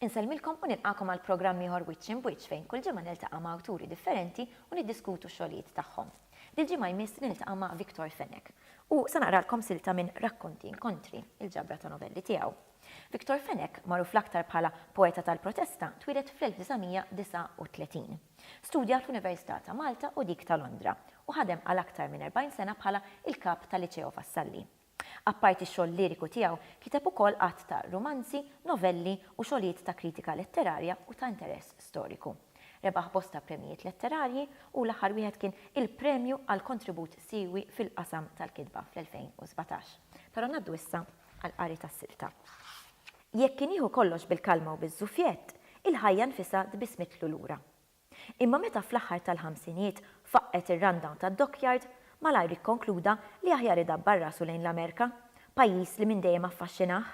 Insellmilkom u nilqakom għal programm ieħor wiċċ imbwiċċ fejn kull ġimgħa niltaqa' ma' awturi differenti u niddiskutu x-xogħlijiet tagħhom. Dil-ġimgħa jmiss niltaqa' ma' Victor Fenech u se naqralkom silta minn Rakkonti Inkontri, il-ġabra ta' novelli tiegħu. Victor Fenech, magħruf l-aktar bħala poeta tal-protesta, twieled fl-1939. Studja fl-Università ta' Malta u dik ta' Londra, u ħadem għal aktar minn 40 sena bħala il-kap tal-Liċeo Vassalli. Apparti x-xogħol liriku tiegħu, kiteb ukoll għadd ta' rumanzi, novelli u xogħlijiet ta' kritika letterarja u ta' interess storiku. Rebaħ bosta premjijiet letterarji u l-aħħar wieħed kien il-Premju għal kontribut siewi fil-qasam tal-kitba fl-2017. Però ngħaddu issa għall-qari tas-silta. Jekk kien jieħu kollox bil-kalma u biż-żufjett, il-ħajja nfisha tbissmitlu lura. Imma meta fl-aħħar tal-ħamsinijiet faqqgħet ir-rundown tad-dockyard, malajr ikkonkluda li aħjar idabbar rasu lejn l-Amerka, pajjiż li minn dejjem affaxxinah.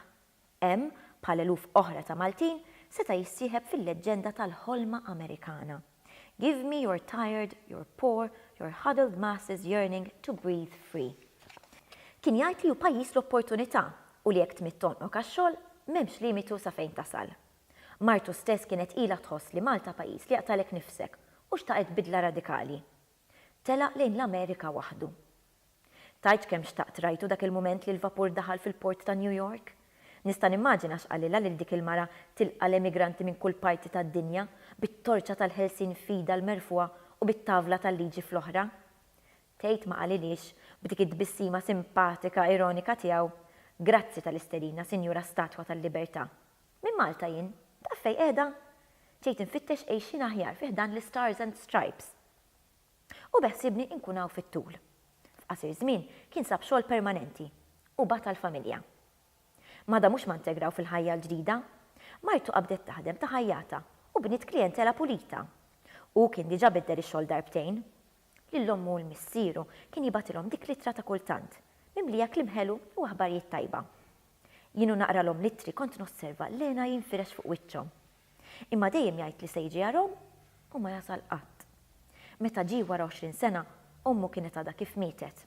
Hemm, bħal eluf oħra ta' Maltin, seta' jissieħeb fil-leġġenda tal-ħolma Amerikana. Give me your tired, your poor, your huddled masses yearning to breathe free. Kien jgħid li hu pajjiż l-opportunità u li jekk tmidd għonqok għax-xogħol, m'hemmx limitu sa fejn tasal. Martu stess kienet ilha tħoss li Malta pajjiż li jaqtagħlek nifsek u xtaqet bidla radikali. Telaq lejn l-Amerika waħdu. Tgħidx kemm xtaqt rajtu dak il-mument li l-vapur daħal fil-port ta' New York. Nista' nimmaġina x'qalilha lil dik il-mara tilqa' l-emigranti minn kull parti tad-dinja bit-torċa tal-ħelsien f'idha l-merfugħa u bit-tavla tal-liġi fl-oħra. Tgħid ma qalilhiex, b'dik it-tbissima simpatika ironika tiegħu, Grazzi tal-isterina, Sinjura Statwa tal-Libertà. Minn Malta jien. Taf fejn qiegħda? Ġejt infittex għejxien aħjar fi ħdan l-Istars and Stripes. U beħsiebni nkun hawn fit-tul. F'qasir żmien kien sab xogħol permanenti u bata l-familja. Mada mhux ma ntegraw fil-ħajja l-ġdida. Martu qabdet taħdem ta' ħajjatha u bniet klijentela pulita. Hu kien diġa' biddel ix-xogħol darbtejn. lil ommu u l-missieru, kien jibgħatilhom dik l-ittra ta' kultant, mimlija kliem ħelu u aħbarijiet tajba. Jien u naqralhom l-ittri kont nosserva l-hena jinfirex fuq wiċċhom. Imma dejjem jgħid li se jiġi għarhom u ma jasal qatt. Meta ġie wara għoxrin sena, ommu kienet għadha kif mietet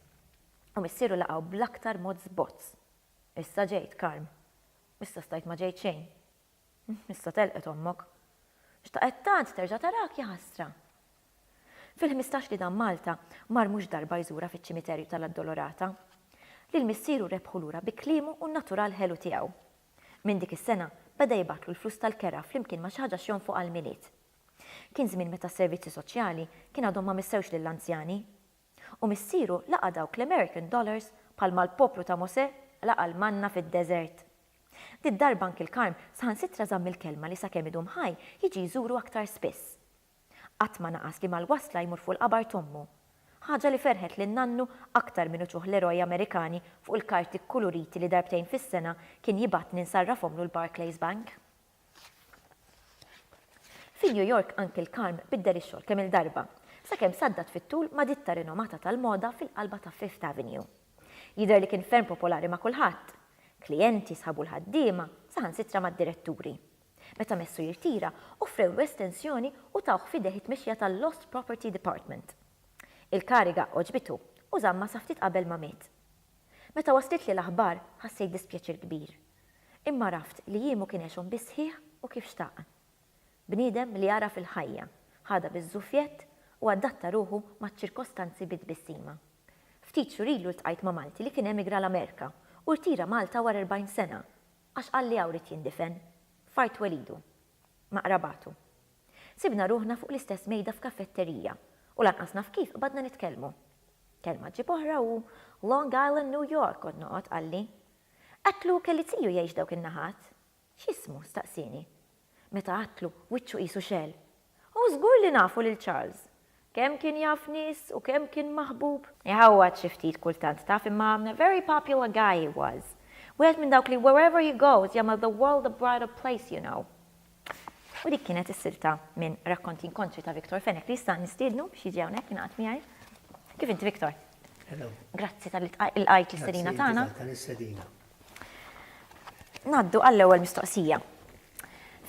u missieru laqgħu bl-aktar mod żbozz. Issa ġejt, Carm. Issa stajt ma ġejt xejn. Issa telqet ommok. Xtaqet tant terġa' tarak, jaħasra. Fil-ħmistax li dam Malta, mar mhux darba jżurha fiċ-ċimiterju tal-Addolorata. Lil missieru rebħu lura bi kliemu u n-natural ħelu tiegħu. Minn dik is-sena, beda jibgħatlu l-flus tal-kera flimkien ma' xi ħaġa x'jonfoq għall-Milied. Kien żmien meta s-servizzi soċjali kien għadhom ma missewx lill-anzjani. U missieru laqa' dawk l-American dollars bħalma l-poplu ta' Mosè laqa' l-manna fid-deżert. Did-darba Uncle Karm saħansitra żamm il-kelma li sakemm idum ħaj jiġi jżuru aktar spiss. Qatt ma naqas li mal-wasla jmur fuq il-qabar t'ommu. Ħaġa li ferħet lil nannu aktar minn uċuħ l-eroj Amerikani fuq il-karti kkuluriti li darbtejn fis-sena kien jibgħatni nsarrafhomlu l-Barclays Bank. Fi New York anki l-karm biddel ix-xogħol kemm-il darba, sakemm saddat fit-tul ma' ditta rinomata tal-moda fil-qalba ta' Fifth Avenue. Jidher li kien ferm popolari ma' kulħadd. Klijenti, sħabu l-ħaddiema, saħansitra mad-diretturi. Meta messu jirtira, offrewlu estensjoni u tawh f'idejh it-tmexxija tal-Lost Property Department. Il-kariga għoġbitu u żammha sa ftit qabel ma miet. Meta waslitli l-aħbar, ħassejt dispjaċir kbir. Imma għraft li jiemu kien għexhom bis-sħiħ u kif xtaq. Bniedem li għaraf il-ħajja, ħadha biż-żufjett u adatta ruħu maċ-ċirkostanzi bi tbissima. Ftit xhur ilu ltqajt ma' Malti li kien emigra l-Amerika u rtira Malta wara 40 sena għax qal li hawn ried jindifen, f'art twelidu, ma' qrabatu. Sibna ruħna fuq l-istess mejda f'kafetterija u lanqas naf kif qbadna nitkellmu. Kelma ġġib oħra u Long Island, New York kont noqgħod, qalli. Għedtlu kelli tiju jgħix dawk in-naħat. X'ismu? staqsieni. Meta għedtlu, wiċċu qisu xegħel. Hu żgur li nafu lil Charles. Kemm kien jaf nies u kemm kien maħbub. Iħawwad xi ftit kultant taf imma a very popular guy he was. Wieħed minn dawk li wherever he goes jagħmel the world a brighter place you know. U dik kienet is-silta minn Rakkonti Inkontri ta' Victor Fenech li issa nistiednu biex jiġi hawnhekk jingħaqad miegħi. Kif inti Victor? Hello. Grazzi tal-li lqajt l-istedina tagħna. Tal-istedina. Naddu għall-ewwel mistoqsija.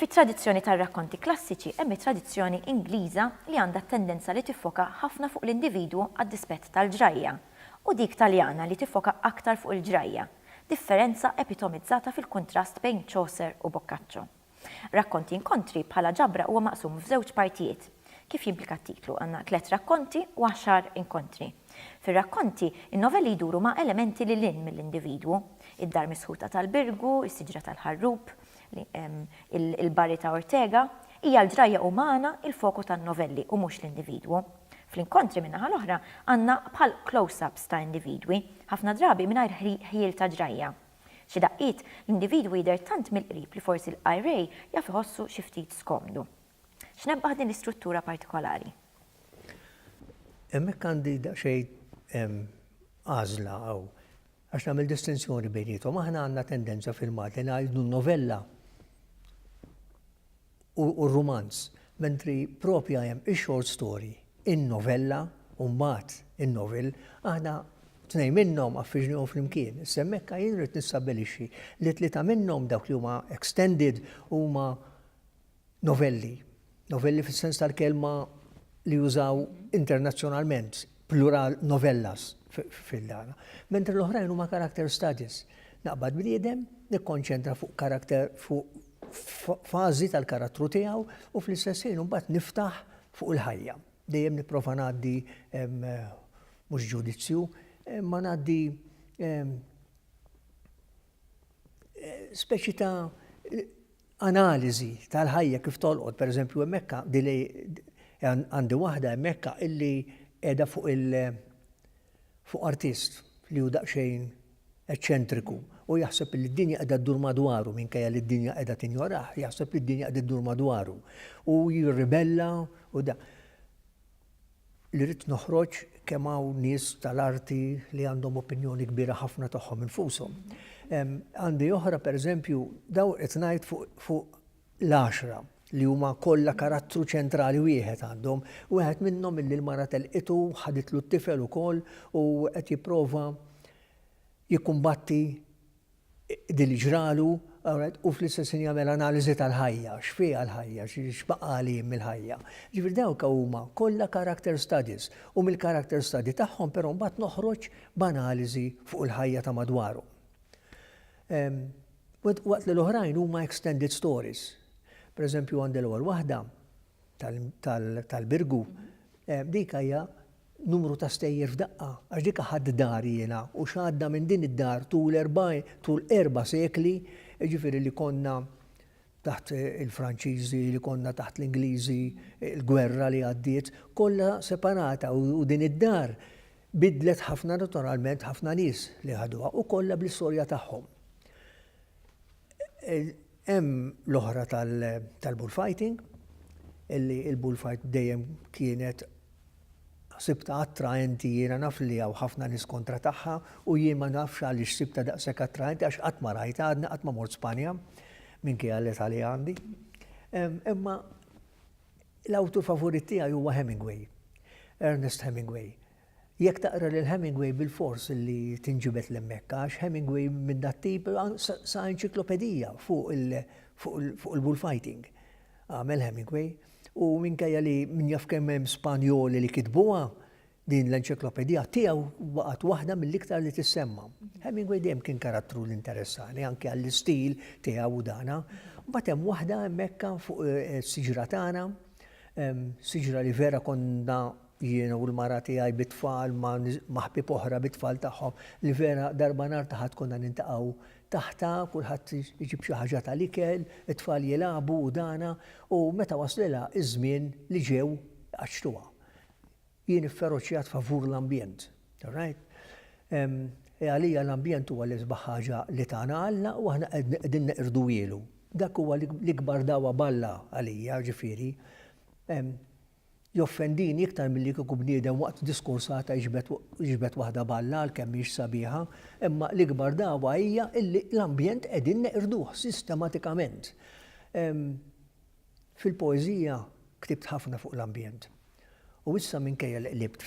Fit-tradizzjoni tar-rakkonti klassiċi hemm it-tradizzjoni Ingliża li għandha t-tendenza li tiffoka ħafna fuq l-individwu għad-dispett tal-ġrajja, u dik Taljana li tiffoka aktar fuq il-ġrajja. differenza epitomizzata fil-kuntrast bejn Chaucer u Boccaccio. Rakkonti Inkontri bħala ġabra huwa maqsum f'żewġ partijiet. Kif jimplika t-titlu, għandna tliet rakkonti u għaxar inkontri. Fir-rakkonti, in-novelli jduru ma' elementi lil hinn mill-individwu, id-dar misħuta tal-Birgu, is-siġra tal-ħarrub, Il-barri ta' Ortega hija l-ġrajja umana il-foku tan-novelli u mhux l-individwu. Fl-inkontri min-naħa l-oħra għandna bħal close-ups ta' individwi, ħafna drabi mingħajr ħjiel ta' ġrajja. Xi daqqiet, l-individwu jidher tant mill-qrib li forsi l-qari jaf iħossu xi ftit skomdu. X'nebbaħ din l-istruttura partikolari? Hemmhekk għandi daqsxejn għażla hawn. Għax nagħmel distinzjoni bejniethom. Aħna għandna tendenza fil-Malti ngħidu n-novella u r-rumanz, mentri propja hemm ix-short story, in-novella u mbagħad in-novel, aħna tnejn minnhom affiġnihom flimkien. Semmekka jien rrid nistabbilixxi li tlieta minnhom dawk li huma extended huma novelli, novelli fis-sens tal-kelma li jużaw internazzjonalment, plural novellas fil-dana. Mentri l-oħrajn huma character studies. Naqbad bniedem, nikkonċentra fuq karakter fuq fażi tal-karattru tiegħu u fl-istess ħin mbagħad niftaħ fuq il-ħajja. Dejjem nipprova ngħaddi mhux ġudizzju, ma ngħaddi speċi ta' analiżi tal-ħajja kif tolqot, pereżempju hemmhekka din li għandi waħda hemmhekka illi qiegħda fuq il fuq artist li hu daqsxejn eċċentriku u jaħseb li d-dinja qiegħda ddur madwaru minkejja li d-dinja qiegħda tinjorah, jaħseb li d-dinja qiegħda ddur madwaru u jirribella u da. li ridt noħroġ kemm hawn nies tal-arti li għandhom opinjoni kbira ħafna tagħhom infushom. Għandi oħra pereżempju daw qed ngħid fuq l-għaxra li huma kollha karattru ċentrali wieħed għandhom, wieħed minnhom illi l-mara telqitu ħaditlu t-tifel ukoll u qed jipprova jikkumbatti dak li ġralu, u fl-istess ħin jagħmel analiżi tal-ħajja, x'fiha l-ħajja, x'baqa' għalih mill-ħajja. Jiġifieri dawk huma kollha character studies u mill-character study tagħhom però mbagħad noħroġ b'analiżi fuq il-ħajja ta' madwarhom. Waqt li l-oħrajn huma extended stories. Pereżempju għandi l-ewwel waħda, tal-Birgu, dik hija numru ta' stejjer f'daqqa, għax dik ħadt dar jiena u x'għadda minn din id-dar tul erba' sekli, jiġifieri li konna taħt il-Franċiżi, li konna taħt l-Ingliżi, il-gwerra li għaddiet, kollha separata u din id-dar bidlet ħafna naturalment ħafna nies li ħaduha u kollha bl-istorja tagħhom. Hemm l-oħra tal-bullfighting, illi l-bullfight dejjem kienet sibtha attraenti, jiena naf li hawn ħafna nies kontra tagħha u jien ma nafx għaliex sibtha daqshekk attraenti għax qatt ma rajtha, għadni qatt ma mort Spanja minkejja l-età li għandi. Imma l-awtur favorit tiegħi huwa Hemingway, Ernest Hemingway. Jekk taqra lil Hemingway bilfors li tinġibed 'l hemmhekk għax Hemingway minn dat-tip sa enċiklopedija fuq il-bullfighting għamel Hemingway u minkejja li min jaf kemm hemm Spanjoli li kitbuha din l-enċiklopedija tiegħu baqgħet waħda mill-iktar li tissemma. Hemingway dejjem kien karattru li interessani anki għall-istil tiegħu u dana. Mbagħad hemm waħda hemmhekk fuq is-siġra tagħna, siġra li vera konna Jien u l-mara tiegħi bit-tfal ma' ma' ħbieb oħra bit-tfal tagħhom li vera darba nhar ta' Ħadd konna niltaqgħu taħtha, kulħadd iġib xi ħaġa tal-ikel, it-tfal jilagħbu u dana, u meta waslilha ż-żmien li ġew iqaċċtuha. Jien ifferoċjat favur l-ambjent. All right? Għalija l-ambjent huwa l-isbaħ ħaġa li tana Alla u aħna qegħdin neqirduhielu. Dak huwa l-ikbar dagħwa b'Alla għalija, ġifieri. Joffendini iktar milli kieku bniedem waqt diskors għad jiġbed waħda balla għalkemm mhix sabiħa, imma l-ikbar dagħwa hija illi l-ambjent qegħdin neqirduh sistematikament. Fil-poeżija ktibt ħafna fuq l-ambjent. U issa minkejja li qlibt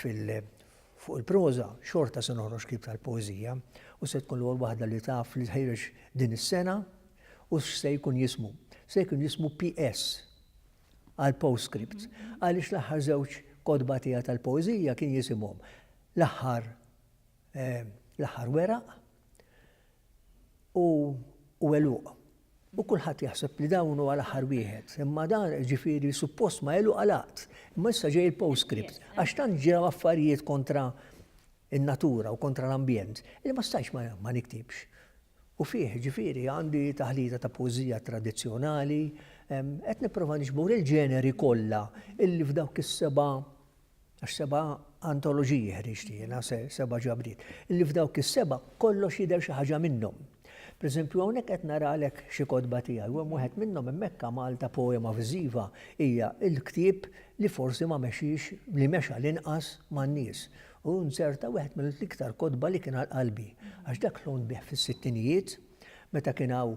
fuq il-proża, xorta se noħroġ ktieb tal-poeżija u se tkun l-ewwel waħda li taf li tħejreġ din is-sena u x'se jkun jismu. Se jkun jismu PS. għal postscripts għaliex l-aħħar żewġ kotba tiegħi tal-poeżija kien jisimhom L-aħħar l-aħħar weraq u u għeluq. U kulħadd jaħseb li dawn huwa l-aħħar wieħed, imma dan ġifieri suppost ma għeluq għalaqt. Imma issa ġej il-postscript għax tant ġew affarijiet kontra in-natura u kontra l-ambjent li ma stajtx ma niktibx. u fih, jiġifieri, għandi taħlita ta' poeżija tradizzjonali, qed nipprova niġbor il-ġeneri kollha illi f'dawk is-seba' għax seba' antoloġiji ħriġt jiena, seba' ġabriet, illi f'dawk is-seba' kollox jidher xi ħaġa minnhom. Pereżempju, hawnhekk qed naralek xi kotba tiegħi u hemm wieħed minnhom hemmhekk għamaltha poema viżiva, hija l-ktieb li forsi ma mexiex, li mexa l-inqas man-nies, u nzerta wieħed mill-iktar kotba li kien għal qalbi għax dak l-għun bih fis-sittinijiet meta kien hawn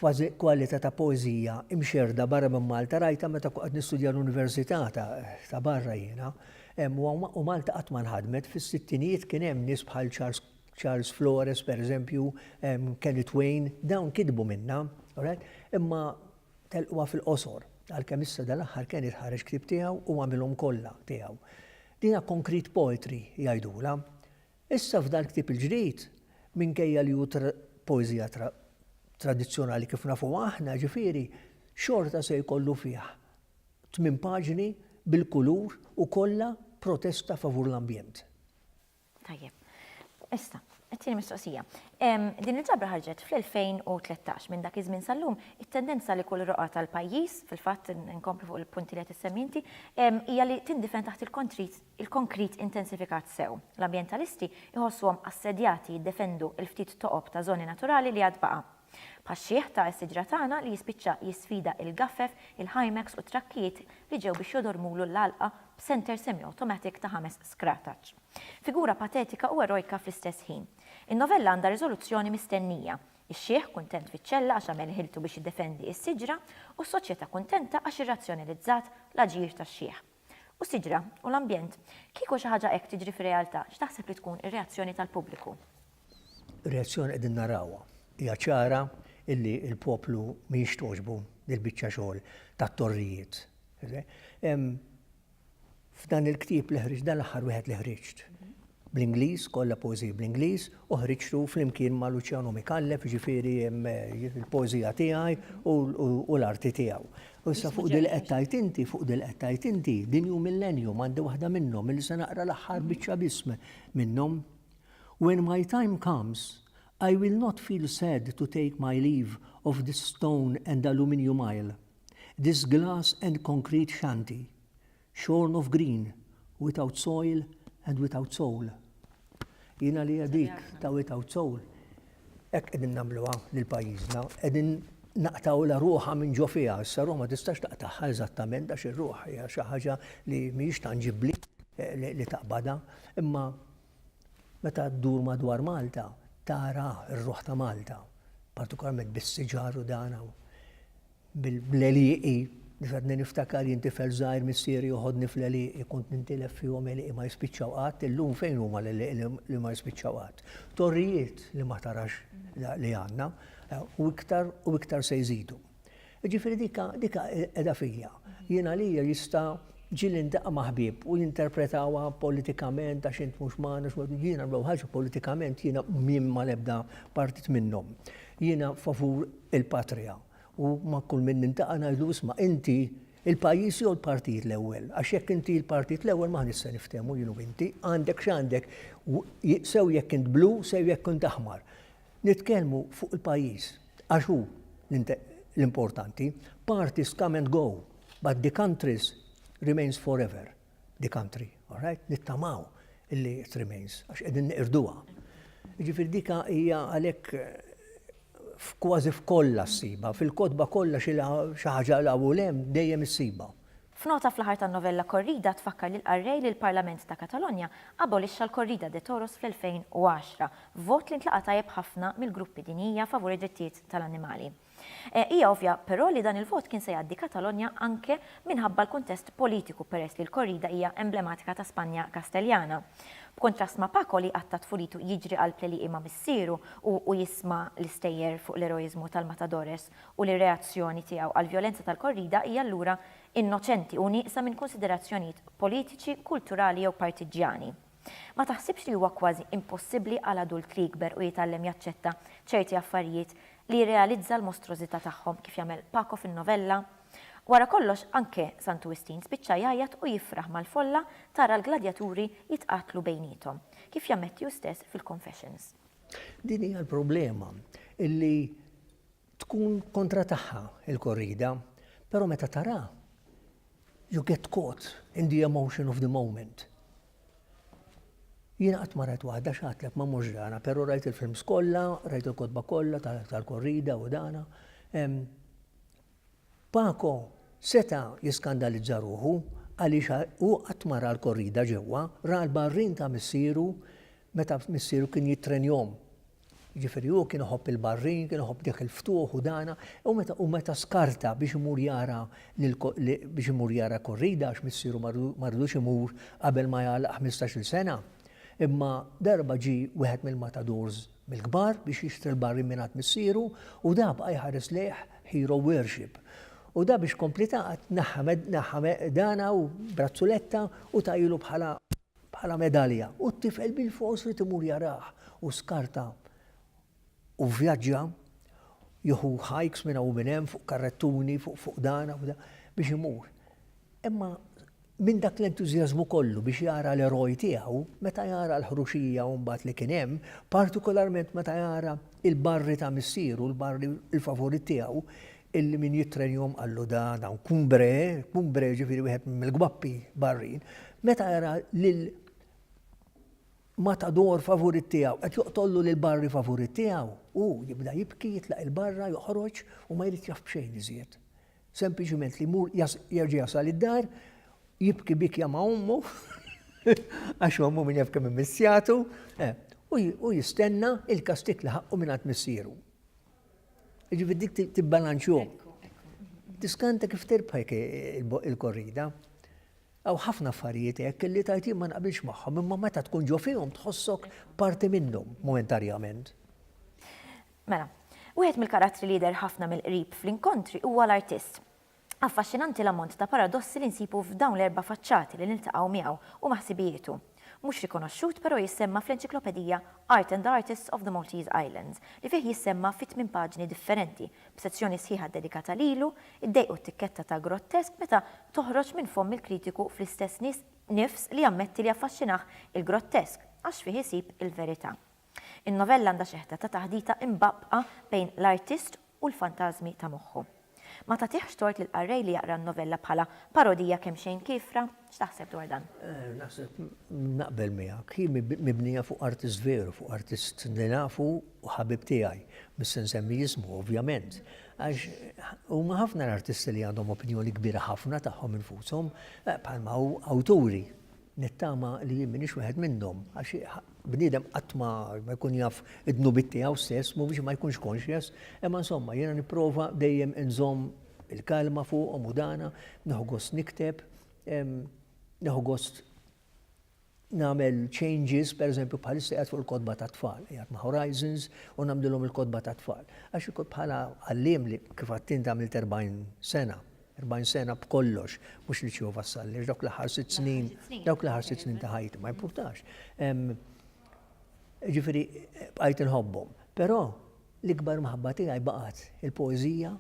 kważi kwalità ta' poeżija imxerrda barra minn Malta rajtha meta kont qed nistudja l-università ta' barra jiena u Malta qatt ma nħadmet fis-sittinijiet kien hemm nies bħal Charles Flores pereżempju Kenny Twain dawn kitbu minnha imma Telqwa fil-qosor, għalkemm issa dal-aħħar Ken irid ħareġ ktieb tiegħu u għamilhom kollha tiegħu. Dinha concrete poetry jgħidulha. Issa f'dal-ktieb il-ġdid, minkejja li hu poeżija tradizzjonali kif nafuha aħna, ġifieri, xorta se jkollu fih tmien paġni bil-kulur u kollha protesta favur l-ambjent. Tajjeb. Issa, it-tieni mistoqsija. Din il-ġabra ħarġet fl-2013. Minn dak iż-żmien sal-lum, it-tendenza li kull roqgħa tal-pajjiż, fil-fatt inkompli fuq il-punti li qed issemmi inti, hija li tindifen taħt il-konkrit intensifikat sew. L-ambjentalisti jħossuhom assedjati jiddefendu l-ftit toqob ta' żoni naturali li għad baqa'. Bħax-xiħ ta' s-siġra tagħna li jispiċċa jisfida il-gaffef, il-hymacks u t-trakkijiet li ġew biex jodormulu l-għalqa b'senter semi-awtomatik ta' ħames skrataċ. Figura patetika u erojka fl-istess ħin. In-novella għandha riżoluzzjoni mistennija, ix-xiħ kuntent fiċ-ċella għax għamel ħiltu biex jiddefendi s-siġra u s-soċjetà kuntenta għax irrazzjonalizzat l-aġir tax-xiħ. U s-siġra, u l-ambjent. Kieku xi ħaġa hekk tiġri fir-realtà, x'taħseb li tkun ir-reazzjoni tal-pubbliku? Ir-reazzjoni qegħdin narawha. Hija ċara illi l-poplu mhijiex togħġbu dil-biċċa xogħol tat-torrijiet. Hemm f'dan il-ktieb li ħriġt, dan l-aħħar wieħed li ħriġt, bl-Ingliż, kollha poeżiji bl-Ingliż, u ħriġtu flimkien ma' Luċjanu Micallef, jiġifieri l-poeżija tiegħi u l-arti tiegħu. U issa fuq din li qed tgħid inti, fuq din li qed tgħid inti, din hu Millennium, għandi waħda minnhom, illi se naqra l-aħħar biċċa biss minnhom. When my time comes, I will not feel sad to take my leave of this stone and aluminium isle, this glass and concrete shanty, Shorn of green, without soil and without soul. Jien għalija dik ta' without soul hekk qegħdin nagħmluha lil pajjiżna, qegħdin naqtgħulha ruħha minn ġo fiha, issa ruħ ma tistax taqtagħha eżattament għax ir-ruħ hija xi ħaġa li mhijiex tanġibbli li taqbadha, imma meta ddur madwar Malta tara r-ruħ ta' Malta, partikolarment bis-siġar u dan hawn. bil-għelieqi, biex għadni niftakar jien tifel żgħir missieri joħodni fl-għelieqi, kont nintilef fihom għelieqi ma jispiċċaw qatt, illum fejn huma l-għelieqi li ma jispiċċaw qatt? Torrijiet li ma tarax li għandna, u iktar u iktar se jżidu. Jiġifieri dik qiegħda fija. Jien għalija jista' ġieli ndaqqa' ma' ħbieb u jinterpretawha politikament għax int mhux magħna, jiena l-ewwel ħaġa politikament jiena mhien mal-ebda partit minnhom. Jiena favur il-patrija. U ma' kull min nintaqa' ngħidlu isma' inti l-pajjiż jew l-partit l-ewwel? Għax jekk inti l-partit l-ewwel m'aħniex se niftehmu jien u inti. Għandek x'għandek, sew jekk int blu sew jekk int aħmar. Nitkellmu fuq il-pajjiż għax hu l-importanti. Parties come and go, but the countries remains forever. the country, all right? Nittamaw illi it remains, għax qegħdin niqirduha. Ġifieri dika hija għalhekk kważi f'kollha ssiba, fil-kotba kollha xi ħaġa l u lem dejjem issiba. F'nota fl-aħħar tan-novella Corrida tfakkar lill-qarrej li l-Parlament ta' Katalonja abolixxa l-corrida de toros fl-2010, vot li ntlaqa' tajjeb ħafna mill-gruppi dinjija favur id-drittijiet tal-annimali. Hija ovvja, però, li dan il-vot kien se jgħaddi Katalonja anke minħabba l-kuntest politiku peress li l-korrida hija emblematika ta' Spanja Kasteljana. B'kuntrast ma' Paco li qatta' tfulitu jiġri għall-pleliqi ma' missieru u u jisma' l-istejjer fuq l-eroiżmu tal-matadores u li r-reazzjoni tiegħu għall-vjolenza tal-korrida hija allura innoċenti u nieqsa minn kunsiderazzjonijiet politiċi, kulturali jew partiġġjani. Ma taħsibx li huwa kważi impossibbli għal adult li jikber u jitgħallem jaċċetta ċerti affarijiet li jirrealizza l-mostrożità tagħhom kif jagħmel Paco fin-novella? Wara kollox anke Santu Wistin spiċċa jgħajjat u jifraħ mal-folla tara l-gladjaturi jitqatlu bejniethom, kif jammetti hu stess fil-Confessions. Din hija l-problema, illi Tkun kontra tagħha il-korrida, però meta tara, you get caught in the emotion of the moment. Jiena qatt ma rajt waħda x'għatlek ma mhux dana, però rajt il-films kollha, rajt il-kotba kollha tal-korrida u dana. Paco seta' jiskandalizza ruħu għaliex hu qatt ma ra l-korrida ġewwa, ra l-barrin ta' missieru meta missieru kien jittrenjahom Jiġifieri hu kien iħobb il-barrin, kien iħobb dak il-ftuħ u dana, u meta u meta skarta biex imur jara biex imur jara korrida għax missieru ma ridux imur qabel ma jagħlaq ħmistax-il sena. Imma darba ġie wieħed mill-matadors mill-kbar biex jixtri l-barrin mingħand missieru u da baqa' jħares lejh hero worship. U da biex komplitat naħħa dana u brazzuletta u tagħilu bħala bħala medalja u t-tifel bilfors irid imur jarah u skarta u vvjaġġa jieħu hikes minn hawn u minn hemm fuq karrettuni fuq fuqdana biex imur. Imma minn dak l-entużjażmu kollu biex jara l-eroj tiegħu, meta jara l-ħruxija u mbagħad li kien hemm, partikolarment meta jara l-barri ta' missieru, l-barri l-favorit tiegħu, illi min jittrenjahom qallu da dawn kumbre, kumbre ġifieri wieħed mill-gwappi barrin, meta jara lil matador favorit tiegħu qed joqtollu lil barri favorit tiegħu, u jibda jibki jitlaq il-barra joħroġ u ma jrid jaf b'xejn iżjed. Sempliċiment li jmur jerġa' jasal id-dar, jibki bikja ma' ommu, għax ommu minn jaf kemm immissjatu, eh, u jistenna il-kastik li ħaqqu minn għand missieru. Jiġifieri dik tibbalanċjhom. Tiskanta kif tirbħek il-korrida. Hawn ħafna affarijiet hekk li tajt jien ma naqbilx magħhom, imma meta tkun ġo fihom tħossok parti minnhom momentarjament. Mela, wieħed mill-karattri li jidher ħafna mill-qrib fl-inkontri huwa l-artist. Affaxxinanti l-ammont ta' paradossi li nsibu f'dawn l-erba' faċċati li niltaqgħu miegħu u ma' ħsibijietu. Mhux rikonoxxut però jissemma fl-enċiklopedija Art and the Artists of the Maltese Islands li fih jissemma fi tmien paġni differenti, b'sezzjoni sħiħa ddedikata lilu, iddejqu t-tikketta ta' grottesque meta toħroġ minn fomm il-kritiku fl-istess nifs li jammetti li affaxxinah il-grottesque għax fih isib il-verità. In-novella għandha xeħta ta' taħdita imbaqqbqa bejn l-artist u l-fantażmi ta' moħħu. Ma tagħtihx tort lill-qarrej li jaqra n-novella bħala parodija kemxejn kiefra? X'taħseb dwar dan? Naħseb naqbel miegħek. Hi mibnija fuq artist veru, fuq artist li nafu u ħabib tiegħi. Mhux se nsemmi jismu, ovvjament. Għax huma ħafna l-artisti li għandhom opinjoni kbira ħafna tagħhom infushom, bħalma hu awturi. Nittama li jien m'iniex wieħed minnhom, għax bniedem qatt ma jkun jaf id-dnubiet tiegħu stess, mhu biex ma jkunx conscious, imma insomma jiena nipprova dejjem inżomm il-kalma fuqhom u dana, nieħu gost nikteb, nieħu gost nagħmel changes, per eżempju bħalissa qiegħed fuq il-kotba tat-tfal, qiegħed ma' Horizons u nagħmlilhom il-kotba tat-tfal. Għax bħala għalliem li kif għadt int għamilt 40 sena, 40 sena b'kollox, mhux li ċieħu vassall, għax dawk l-aħħar sitt snin, dawk l-aħħar sitt snin ta' ħajti ma jimpurtax. Ġifieri bqajt inħobbhom. Però l-ikbar maħabba tiegħi baqgħet il-poeżija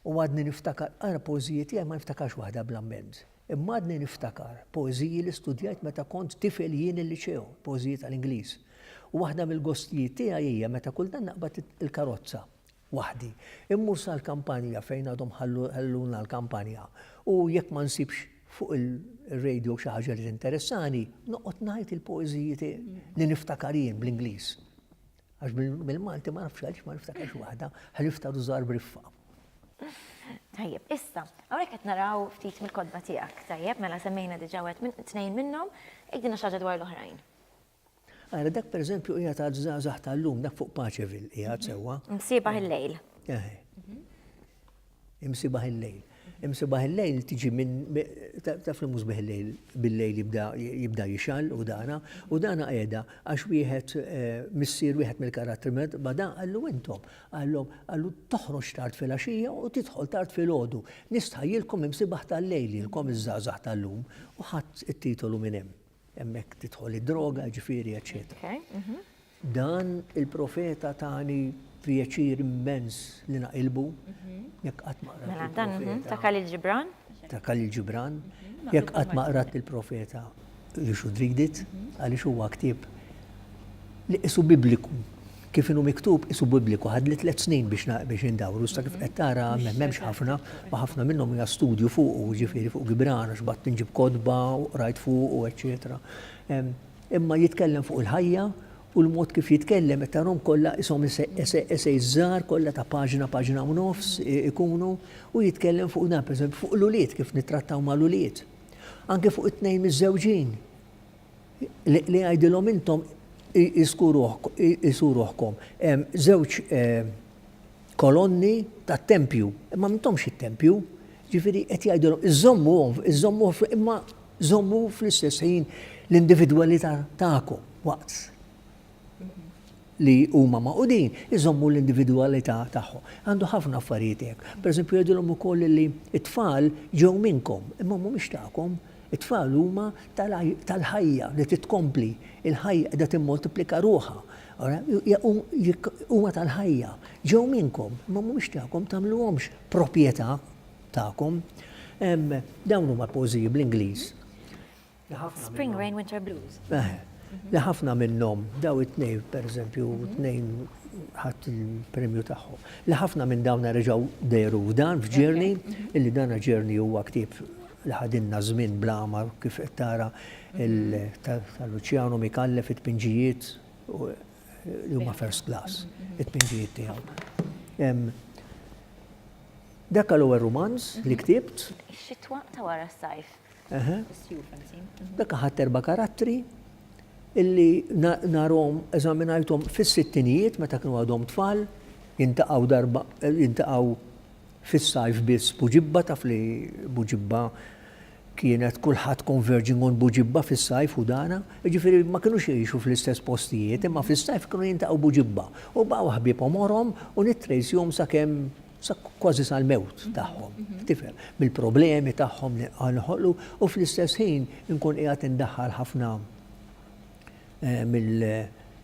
u għadni niftakar ara poeżiji tiegħi ma niftakarx waħda bla mezz. Imma għadni niftakar poeżiji li studjajt meta kont tifel jien il-liċew, poeżiji tal-Ingliż. U waħda mill-gostijiet tiegħi hija meta kultant naqbad il-karozza waħdi. Immur sal-kampanja fejn għadhom ħalluna l-kampanja u jekk ma nsibx fuq ir-radio xi ħaġa li tinteressani, noqgħod ngħid il-poeżiji li niftakar jien bl-Ingliż. Għax bil-Malti ma nafx għaliex ma niftakarx waħda, ħlifta rużar briffa. Tajjeb, issa, hawnhekk qed naraw ftit mill-kodba tiegħek, tajjeb, mela semmejna diġà wieħed minn tnejn minnhom, ikdina xi ħaġa dwar l-oħrajn. Ara, dak per eżempju qiegħed għad żgħażagħ tal-lum, dak fuq Paċevil qiegħed mhm. sewwa. Imsibaħ il-lejl. Eh. Mhm. Imsibaħ il-lejl. Imsibaħ il-lejl tiġi minn taf li mhux il-lejl bil-lejl jibda jixal u dana, u dana qiegħda għax wieħed eh, missier wieħed mill-karattri med bada għallu intom, għallhom għallu toħroġ tard fil-għaxija u tidħol tard fil-ħodu. Nistħajjilkom imsibaħ tal-lejl ilkom iż-żgħażagħ tal-lum u ħadd it-titolu minn hemm. Hemmhekk tidħol id-droga, jiġifieri eċċetera. Dan il-profeta tani pjaċir immens li naqilbu, jekk qatt ma qrajt. Mela dan mhm, ta' Khalil Ġibran? Ta' Khalil Ġibran, jekk qatt ma qrajt il-profeta li xudridit, għaliex huwa ktieb li qisu bibliku. Kif inhu miktub, qisu bibbliku, ħadli tliet snin biex indawru, iżda kif qed tara m'hemmx ħafna, u ħafna minnhom hija studju fuqu, jiġifieri fuq Gibran, għax bgħadt inġib kotba u qrajt fuqu, eċċetera. Imma jitkellem fuq il-ħajja u l-mod kif jitkellem qed tarahom kollha qishom essays żgħar kollha ta' paġna, paġna u nofs ikunu, u jitkellem fuq dan, pereżempju fuq l-ulied, kif nittrattaw mal-ulied. Anke fuq it-tnejn miżżewġin. li jgħidilhom intom qisu ruħkom hemm żewġ kolonni tat-tempju, imma m'intomx it-tempju. Ġifieri qed jgħidilhom iżżommuhom, iżżommuh imma żommu fl-istess ħin l-individwalità tagħkom waqt li huma magħqudin iżommu l-individwalità tagħhom. Għandu ħafna affarijiet hekk. Pereżempju jgħidilhom ukoll li t-tfal ġew minnkom, imma mhumiex tagħkom. It-tfal huma tal-ħajja li titkompli, il-ħajja qiegħda timmultiplika ruħha. Huma tal-ħajja, ġew minnkom, imma mhumiex tagħkom, tagħmluhomx proprjetà tagħkom. Dawn huma poeżiji bl-Ingliż. Spring Rain Winter Blues. Li ħafna minnhom daw it-tnejn pereżempju mhm. tnejn ħadd il-premju tagħhom. Li ħafna minn dawn reġgħu dejru f'dan f'Ġerni, mhm. illi dan Ġerni huwa ktieb li ħadinna żmien blama kif qed tara mhm. tal-Luċjano Mikalle fit-tpinġijiet li huma first class, it-tpinġijiet tiegħu. Dak l-ewwel rumanz li ktibt. Xitwa ta' wara s-sajf. Dak ħadd erba' karattri illi narhom eżaminajthom fis-sittinijiet meta kienu għadhom tfal, jintaqgħu darba jintaqgħu fis-sajf biss Buġibba taf li Buġibba kienet kulħadd converging on Buġibba fis-sajf u dana, jiġifieri ma kinux jgħixu fl-istess postijiet, imma fis-sajf kienu jintaqgħu Buġibba. U baqgħu ħbieb omorhom u nittrejsihom sakemm sa kważi sal-mewt tagħhom, tifhem, bil-problemi tagħhom li noħolqu u fl-istess ħin inkun qiegħed indaħħal ħafna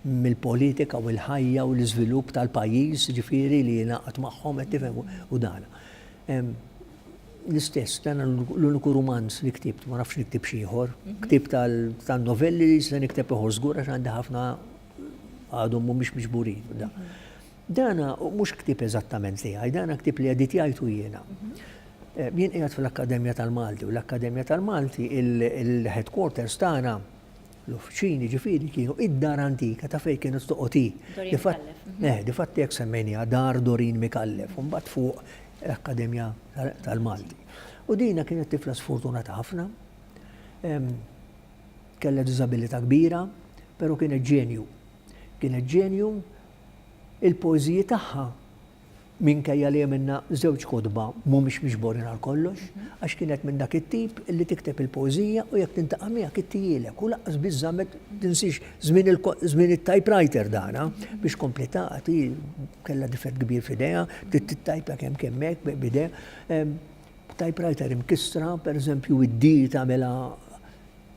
mill-politika u l-ħajja u l-iżvilupp tal-pajjiż ġifieri li jingħaqad magħhom qed tifhem u dan. L-istess dan l-uniku rumanz li ktibt, ma nafx niktib xi ieħor, ktibt tal-novelli li se nikteb ieħor żgur għax għandi ħafna għadhom mhumiex miġburin. Dan mhux ktieb eżattament tiegħi, dan ktieb li editjajtu jiena. Jien qiegħed fl-Akkademja tal-Malti u l-Akkademja tal-Malti il-headquarters tagħna l-uffiċini ġifieri kienu id-dar antika ta' fejn kienet toqgħod hi. Eh, difatti hekk semmejniha dar Dorin Mikallef, u mbagħad fuq l-Akkademja tal-Malti. U dina kienet tifla sfortunata ħafna, kellha diżabilità kbira, però kienet ġenju. Kienet ġenju Il-poeżiji tagħha, minkejja li hemm minnha żewġ kotba, mhumiex miġborin għal kollox, għax kienet minn dak it-tip li tikteb il-poeżija u jekk tintaqa' miegħek ittihielek u lanqas biss żammet, tinsiex, żmien it-typewriter dan, biex kompliet taqgħad, hi kellha difett kbir f'idejha, tittajpa kemm kemm hekk b'idejha. Typewriter imkissra, pereżempju, id-D tagħmilha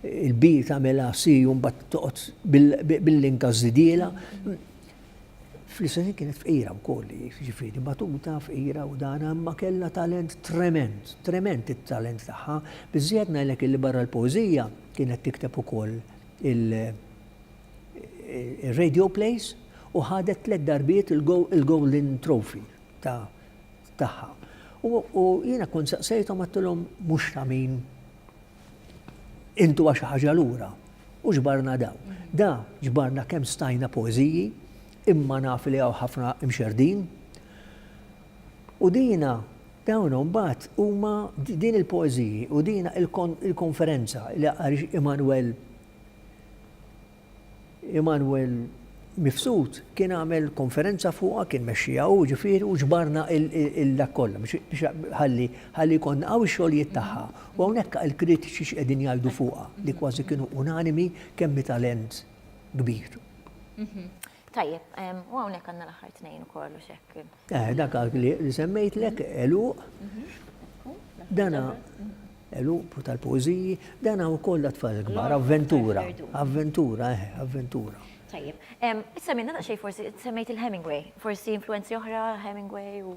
Il-B tagħmilha C u mbagħad toqgħod bil-link għaż-żidiela. Fl-istess kienet fqira wkoll, jiġifieri batuta fqira u dan imma kellha talent trement, trement it-talent tagħha. Biżżejjed ngħidlek illi barra l-poeżija kienet tikteb ukoll il-radio plays u ħadet tliet darbiet il-Golden Trophy tagħha. U jiena kont saqsejthom għattilhom mhux ta' min Intuha xi ħaġa lura u ġbarna dawn. Da ġbarna kemm stajna poeżiji, imma naf li hawn ħafna imxerrdin. U dina dawn imbagħad huma din il-poeżiji u dina il-konferenza li għaliex Immanuel Immanuel Mifsud kien għamel konferenza fuqha, kien mexxiha hu ġifieri u ġbarna dak kollha biex ħalli ħalli jkollna hawn ix-xogħlijiet tagħha. U hawnhekk il-kritiċi x'qegħdin jgħidu fuqha, li kważi kienu unanimi kemm hi talent kbir. Tajjeb, u hawnhekk għandna l-aħħar tnejn ukoll u xekk. Eh, dak li semmejtlek eluq. Mhm. Dana eluq tal-pożiji, dana wkoll tfal kbar, avventura, avventura, eh, avventura. Tajjeb, issa minna daqsxejn forsi semmejt il-Hemingway, forsi influenzi oħra Hemingway u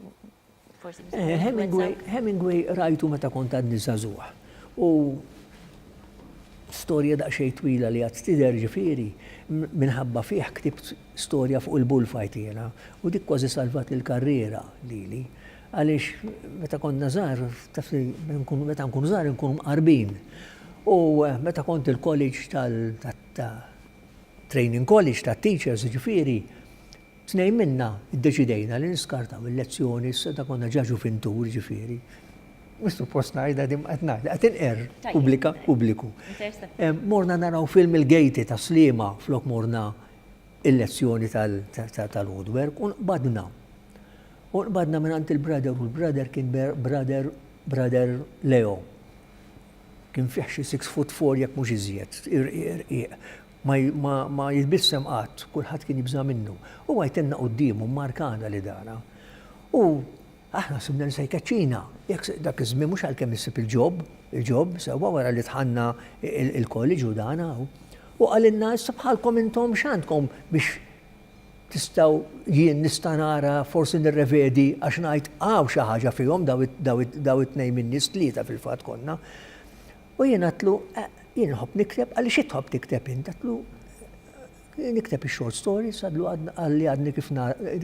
Hemingway rajtu meta kont għadni żagħżugħ u storja daqsxejn twila li għad tidher ġifieri minħabba fih ktibt storja fuq il-bullfight jiena u dik kważi salvat il-karriera lili għaliex meta konna żgħar taf li meta nkunu żgħar inkunu mqarbin u meta kont il-college tal-training college tat-teachers ġifieri Tnejn minna ddeċidejna li niskartaw il-lezzjoni, s-seta' konna ġa ġuvintur, jiġifieri, mhux suppost ngħidha din ma qed ngħidha, qed inqerr pubblika, pubbliku. Morna naraw film il-gejti tas-Sliema flok morna il-lezzjoni tal-woodwork u nqbadna. U nqbadna mingħand il-brother u l-brother kien brother, brother Leo. Kien fih xi six foot four jekk mhux iżjed, irqiq, irqiq. Ma jitbissem qatt, kulħadd kien jibża' minnu. U għajtenna quddiemu, mmarkana li dara. U aħna ħsibna li se jkeċċina. Dak iż-żmien mhux għalkemm issib il-ġob, il-ġob, sewwa wara li dħalna ilkoll, iġu dan hawn. U qalilna, issa bħalkom intom x'għandkom biex tistgħu jien nista' nara forsi nirrevedi għax ngħid hawn xi ħaġa fihom dawn it-tnejn min-nies, tlieta fil-fatt konna. U jien għedtlu, jien inħobb nikteb, għalli xi tħobb tikteb int? Għedtlu, nikteb il-short stories, għalli għadni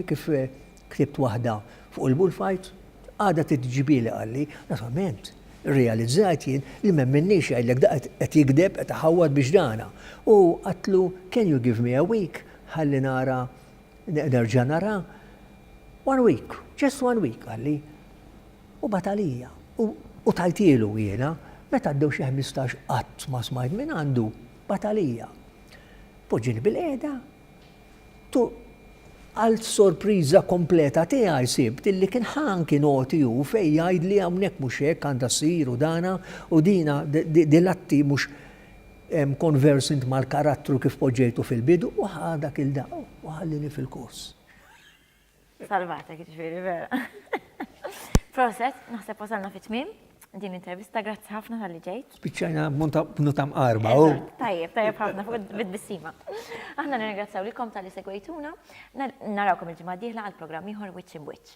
kif eh, ktibt waħda fuq il-bullfight, għada t-ġibili għalli, naturalment, realizzajt jien li mem minnix għajdlek da għet jikdeb, għet ħawad biex dana. U għatlu, can you give me a week? Għalli nara Nerġa' nara one week, just one week qalli. U bagħat għalija. U tajtielu jiena, meta għaddew xi ħmistax qatt ma smajt minn għandu, bagħat għalija. Poġġieni bil-qiegħda, għal sorpriża kompleta tiegħi sibt illi kien ħa anki noti hu fejn jgħidli hawnhekk mhux hekk għandha ssir u dana u dina dil-atti mhux Conversant mal-karattru kif poġġejtu fil-bidu u ħa dak il-daqq u ħallini fil-kors. Salvatek jiġifieri vera. Proset, naħseb wasalna fit-tmiem din intervista, grazzi ħafna tal-li ġejt. Spiċċajna b'nuta mqarba. Tajjeb, tajjeb ħafna fuq bid-bissima. Aħna nirringrazzjaw lilkom tal-li segwejtuna, narawkom il-ġimgħa dieħla għal programm ieħor Wiċċ Imwiċċ.